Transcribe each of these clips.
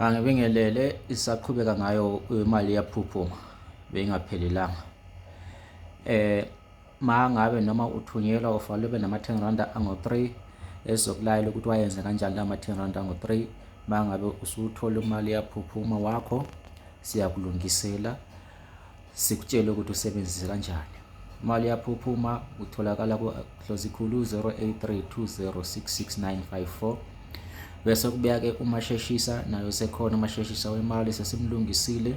angibingelele isaqhubeka ngayo imali yaphuphuma beyingaphelelanga eh mangabe noma uthunyelwa ufanele ube nama-10 randa ango-3 ezokulayela ukuthi wayenze kanjani la ma-10 randa ango-3 mangabe usuwuthola imali yaphuphuma wakho siyakulungisela sikutshele ukuthi usebenzise kanjani imali yaphuphuma utholakala ku-dlozikhulu 0832066954 bese kubeke umasheshisa nayo sekhona umasheshisa wemali sesimlungisile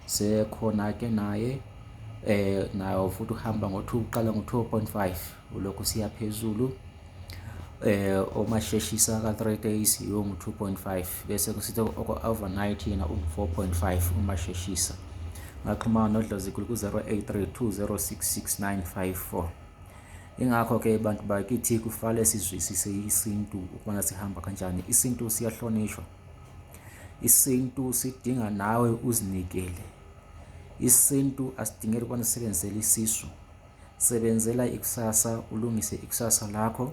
sekhona-ke naye eh nayo futhi uhamba ngo-2 uqala ngo-2.5 ulokhu siya phezulu eh uma sheshisa ka 3 days yongu 2.5 bese kusithe overnight yena u 4.5 uma sheshisa ngaxhumana nodlozi ku 0832066954 ingakho ke abantu bakithi kufale sizwisise isintu ukubona sihamba kanjani isintu siyahlonishwa isintu sidinga nawe uzinikele isintu asidingeli ukubona sisebenzisele isisu sebenzela ikusasa ulungise ikusasa lakho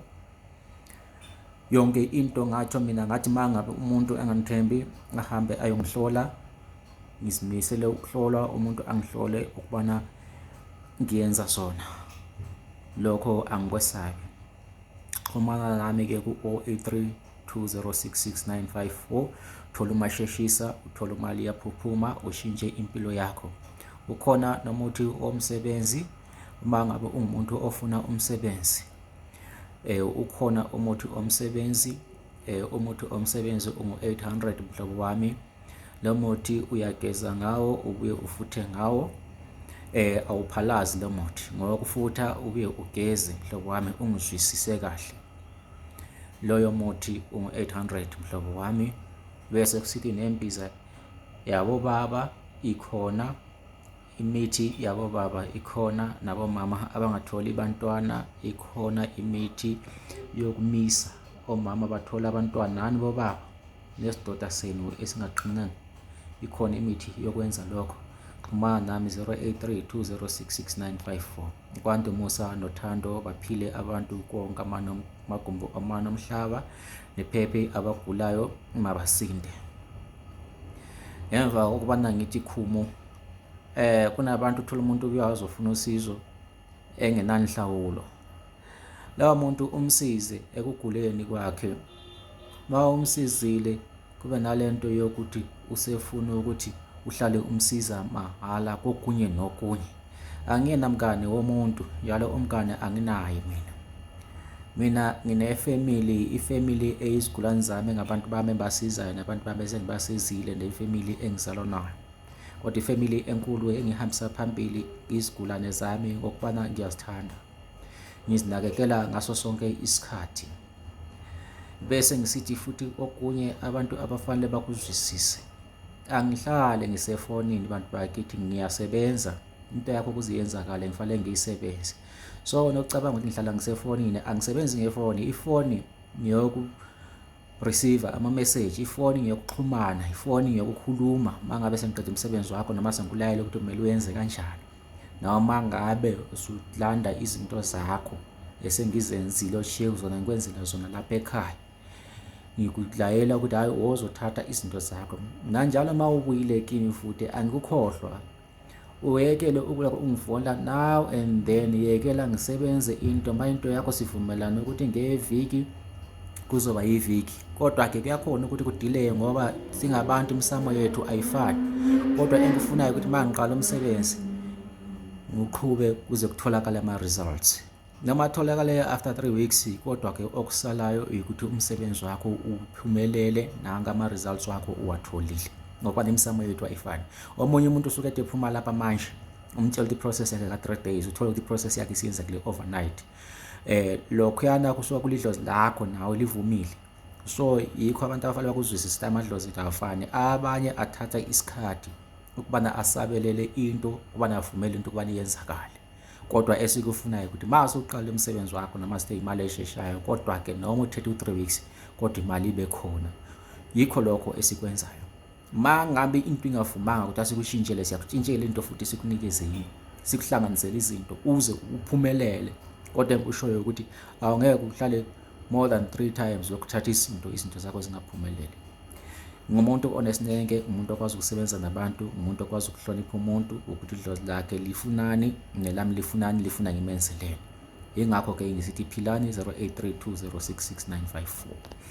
yonke into ngatsho mina ngathi uma ngabe umuntu engangithembi ahambe ayongihlola ngizimisele ukuhlolwa umuntu angihlole ukubana ngiyenza sona lokho angikwesabi xhumana nami-ke ku-083 2066954 thola umasheshisa uthola imali yaphuphuma ushintshe impilo yakho ukhona nomuthi womsebenzi uma ngabe ungumuntu ofuna umsebenzi eh ukhona umuthi omsebenzi eh umuthi omsebenzi ungu800 mhlobo wami lo muthi uyageza ngawo ubuye ufuthe ngawo eh awuphalazi lo muthi ngoba kufutha ubuye ugeze mhlobo wami ungizwisise kahle loyo muthi ungu-800 mhlobo wami bese kusithi nembiza yabobaba ikhona imithi yabobaba ikhona nabomama abangatholi bantwana ikhona imithi yokumisa omama bathola abantwana nani bobaba nesidoda senu esingaqinanga ikhona imithi yokwenza lokho xhumana nami 0832066954 kwande umusa nothando baphile abantu konke amagumbi amane omhlaba nephephe abagulayo mabasinde ngemva kokubana ngithi khumo eh kunabantu uthola umuntu uyazi ofuna usizo engenanhlawulo lawa muntu umsize ekuguleni kwakhe ma umsizile Kube nalento yokuthi usefuna ukuthi uhlale umsiza mahhala kokunye nokunye. Angiyena mngane womuntu, njalo umngane anginaye mina. Mina ngine-family, i-family eyizigulane zami ngabantu bami engibasizayo nabantu bami esengibasizile ne-family engizalwa nayo. Kodwa i-family enkulu engihambisa phambili izigulane zami ngokubana ngiyazithanda. ngizinakekela ngaso sonke isikhathi bese ngisithi futhi okunye abantu abafanele bakuzwisise angihlale ngisefonini bantu bakithi ngiyasebenza into yakho ukuze yenzakale ngifanele ngiyisebenze so nokucabanga ukuthi ngihlala ngisefonini angisebenzi ngefoni ifoni ngiyoku Receiver, Amameseji, ifoni ngeyokuxhumana, ifoni ngeyokukhuluma mangabe sengiqeda umsebenzi wakho noma sengikulayele ukuthi kumele uyenze kanjani. Noma ngabe usulanda izinto zakho esengizenzile oshiye kuzona ngikwenzela zona lapha ekhaya. Ngikulayela ukuthi hhayi wozothatha izinto zakho. Nanjalo uma ubuyile kimi futhi angikukhohlwa uyekele ukulaka ungifola now and then yekela ngisebenze into ma into yakho sivumelane ukuthi ngeviki kuzoba yiviki kodwa-ke kuyakhona ukuthi kudileye ngoba singabantu imisamo yethu ayifani kodwa engikufunayo ukuthi ma ngiqala umsebenzi ngiqhube kuze kutholakale ama-results noma atholakale after 3 weeks kodwa ke okusalayo ukuthi umsebenzi wakho uphumelele nanka ama results wakho uwatholile ngoba nemisamo yethu ayifani omunye umuntu usuke ethi phuma lapha manje umtshela ukuthi process yakhe ka 3 days uthola ukuthi process yakhe isiyenzekile overnight eh lokho yana kusuka kulidlozi lakho nawe livumile so yikho abantu abafanele bakuzwisise amadlozi kafani abanye athatha isikhathi ukubana asabelele into ukubana avumele into ukubana yenzakale kodwa esikufunayo ukuthi uma usuqala umsebenzi wakho noma sithe imali esheshayo kodwa ke noma uthethe u-3 weeks kodwa imali ibe khona yikho lokho esikwenzayo ma ngabe into ingavumanga ukuthi asikushintshele siyakushintshela into futhi sikunikeze yini sikuhlanganisele izinto uze uphumelele kodwa enkushoyo ukuthi awungeke uhlale more than three times lokhu thatha izinto izinto zakho zingaphumeleli ngumuntu onesineke umuntu okwazi ukusebenza nabantu umuntu okwazi ukuhlonipha umuntu ukuthi idlozi lakhe lifunani nelami lifunani lifuna ngimenzeleni yingakho ke ngisithi philani 0832066954